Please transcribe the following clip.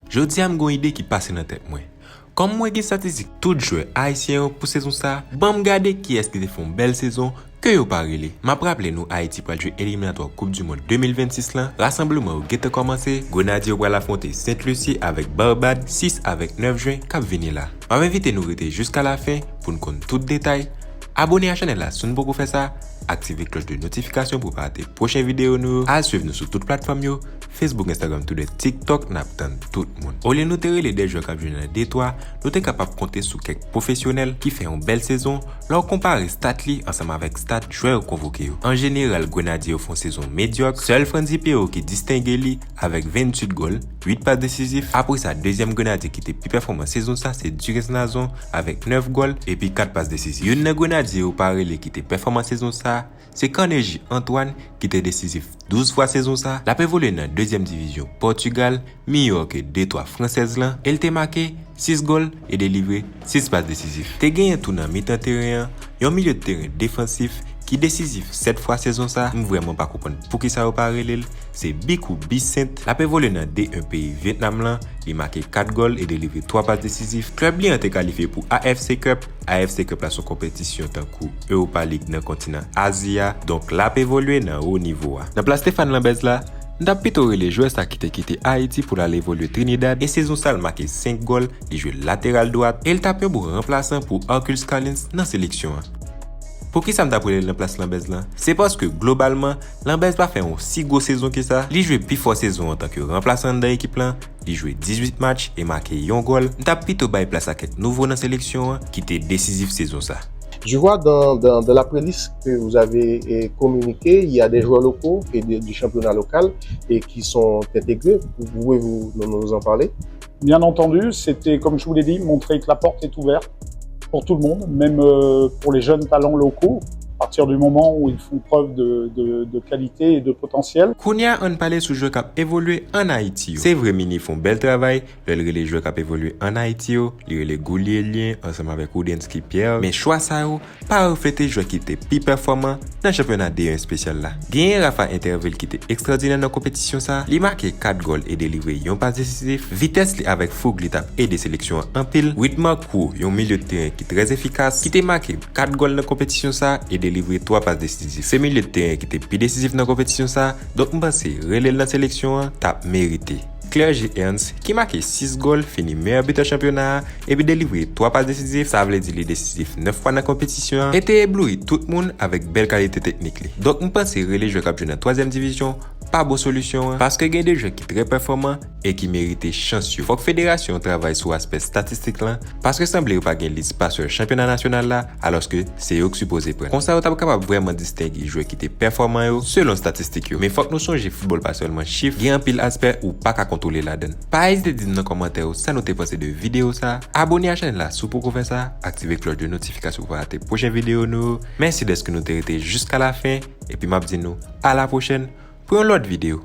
Jodi a m gen yon ide ki pase nan tèt mwen. Kòm mwen gen statistik tout jwè ayisyen yo pou sezon sa, banm gade kiyès ki te fè yon bèl sezon, Ke yo pa rele. M ap raple nou Ayiti pral jwe eliminatwa koup du mond 2026 lan, rasanbleman yo gentan kòmanse, Grenadye yo pral afwonte Sent Lusi avèk Barbad 6 avèk 9 Jwen k ap vini la. M ap envite nou rete jiska lafen pou n konn tout detay, abone a chanèl la si w n poko fè sa, aktive klòch de notifikasyon pou w pa rate pwochen videyo nou yo, al swiv nou sou tout platfòm yo, Facebook Instagram Twitter TikTok n ap tann tout moun. Olye nou te rele de jwè k ap jwe nan D3, nou te kapab konte sou kèk pwofesyonèl ki fè yon bèl sezon, Lè w konpare stat li ansanm avèk stat jwè yo konvoke yo, an jeneral Grenadye yo fè yon sezon medyòk, sèl Frantzy Perraud ki distenge li avèk 28 gòl, 8 pas desizif, apre sa dezyèm Grenadye ki te pi pèfòman sezon sa se Durens Nazon avèk 9 gòl epi 4 pas desizif. Youn nan Grenadye yo pa rele ki te pèfòman sezon sa, Se Carnegie Antoine ki te desizif 12 fwa sezon sa, l ap evolye nan dezyèm divizyon Pòtugal, miyò ke de twa fransèz lan, e l te make 6 gòl e delivre 6 pas desizif. Te genyen tou nan mitan teren an, yon milye teren defansif ki desizif 7 fwa sezon sa, m vrèman pa konprann poukisa yo pa rele l, se Bicou Bicent, l ap evolye nan D1 peyi Vyetnam lan, li make 4 gòl e delivre 3 pas desizif. Klèb li an te kalifye pou AFC Cup. AFC Cup la s on konpetisyon tankou Europa League nan kontinan Azi a, donk l ap evolye nan wo nivo a. Nan plas Stephane Lambez la, m t ap pito rele jwè sa ki te kite Ayiti pou l al evolye Trinidad e sezon sa l make 5 gòl, li jwe lateral dwat e l t ap yon bon ranplasan pou Arcus Collins nan seleksyon an. Poukisa m t ap rele l nan plas Lambez lan? Se paske globalman, Lambez pa fè yon si gwo sezon ke sa, li jwe pifò sezon antanke ranplasan anndan ekip lan, Li jwe 18 match e make yon gòl, m ta pito bay plas a kèk nouvo nan seleksyon an ki te desizif sezon sa. Je vois dans dans dans la preliste que vous avez communiqué il y a des joueurs locaux et des du championnat local et qui sont intégrés, pouvez-vous nous en parler? Bien entendu, c'était comme je vous l'ai dit, montrer que la porte est ouverte. Pour tout le monde, même euh, pour les jeunes talents locaux, à partir du moment où ils font preuve de, de, de qualité et de potentiel. Kounya ann pale sou jwè kap evolye an Ayiti yo. Se vre Mini fon bèl travay lè l rele jwè kap evolye an Ayiti yo, li rele Goulielien ansanm avèk Roudensky Pierre, men chwa sa yo pa reflete jwè ki te pi pèfòman nan chanpyona D1 espesyal la. Genyen Rafa Interville ki te ekstwòdinè nan konpetisyon sa, li make 4 gòl e delivre yon pas desizif. Vitès li avèk foug li t ap ede seleksyon an anpil. Widmar Kroo, yon milye de teren ki trè efikas, ki te make 4 gòl nan konpetisyon sa e delivre 3 pas desizif. Se milye de teren ki te pi desizif nan konpetisyon sa, donk m panse rele l nan seleksyon an t ap merite. Clergie Ernst ki make 6 gòl fini meyè bitè chanpyona a epi delivre 3 pas desizif, sa vle di li desizif 9 fwa nan konpetisyon an e te ebloui tout moun avèk bèl kalite teknik li. Donk m panse rele jwè k ap jwe nan twazyèm divizyon pa bon solisyon an paske gen 2 jwè ki trè pèfòman e ki merite chans yo. Fòk federasyon an travay sou aspè statistik lan paske sanble yo pa gen lis pasè chanpyona nasyonal la alòske se yo k sipoze pran. Konsa yo t ap kapab vrèman distenge jwè ki te pèfòman yo selon statistik yo. Men fòk nou sonje foutbòl pa sèlman chif, gen anpil aspè ou pa ka kontwole ladann. Pa ezite di m nan kòmantè yo sa nou te panse de videyo sa, abone a chanèl la si w poko fè sa, aktive klòch de notifikasyon pou pa rate pwochen videyo nou yo. Mèsi dèske nou te rete jiska lafen epi m ap di nou alapwochèn pou yon lòt videyo.